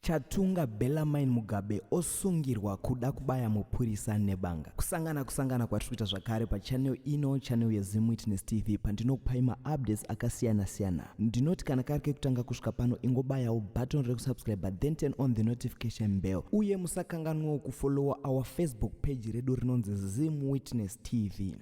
Chatunga Bellarmine Mugabe osungirwa kuda kubaya mupurisa nebanga. Kusangana kusangana kwatiri kuita zvakare pachannel ino, channel yeZim Witness TV pandinokupai maupdates akasiyana siyana. Ndinoti kana kari kekutanga kusvika pano ingobayawo button rekusubscribe then turn on the notification bell uye musakanganwawo kufollowa our Facebook page redu rinonzi Zim Witness TV.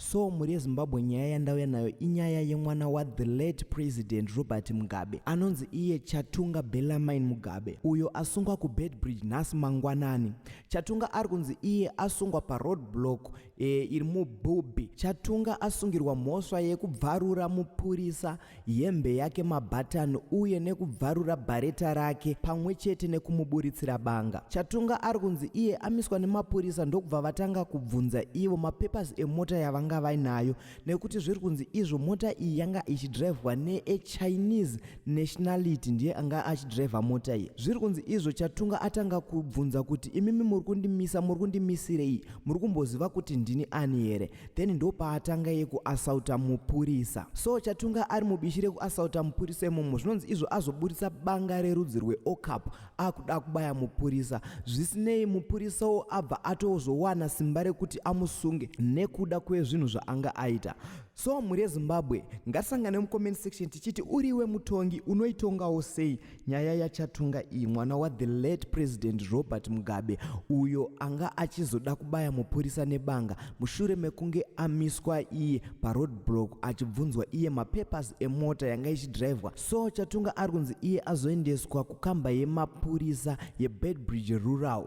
so mhuri yezimbabwe nyaya yandauya nayo inyaya yemwana wathe late president robert mugabe anonzi iye chatunga belamine mugabe uyo asungwa kubedbridge nhasi mangwanani chatunga ari kunzi iye asungwa paroad block e, iri mubhubhi chatunga asungirwa mhosva yekubvarura mupurisa hembe yake mabhatani uye nekubvarura bhareta rake pamwe chete nekumuburitsira banga chatunga ari kunzi iye amiswa nemapurisa ndokubva vatanga kubvunza ivo mapepers emota yavanga vainayo nekuti zviri kunzi izvo mota iyi yanga ichidrivhwa neechinese nationality ndiye anga achidrivha mota iyi zviri kunzi izvo chatunga atanga kubvunza kuti imimi muri kundimisa muri kundimisirei muri kumboziva kuti ndini ani here then ndopaatanga ye kuasauta mupurisa so chatunga ari mubishi rekuasauta mupurisa imomo zvinonzi izvo azoburitsa banga rerudzi rweocap akuda kubaya mupurisa zvisinei mupurisawo abva atozowana simba rekuti amusunge nekuda kwezvinhu zvaanga aita so mhuri yezimbabwe ngatisangane mucomment section tichiti uriwe mutongi unoitongawo sei Nyaya yaChatunga iyi mwana wa the late President Robert Mugabe uyo anga achizoda kubaya mupurisa nebanga mushure mekunge amiswa iye paroadblock achibvunzwa iye mapapers emota yanga ichidrivwa so Chatunga ari kunzi iye azoendeswa kukamba yemapurisa yeBedbridge Rural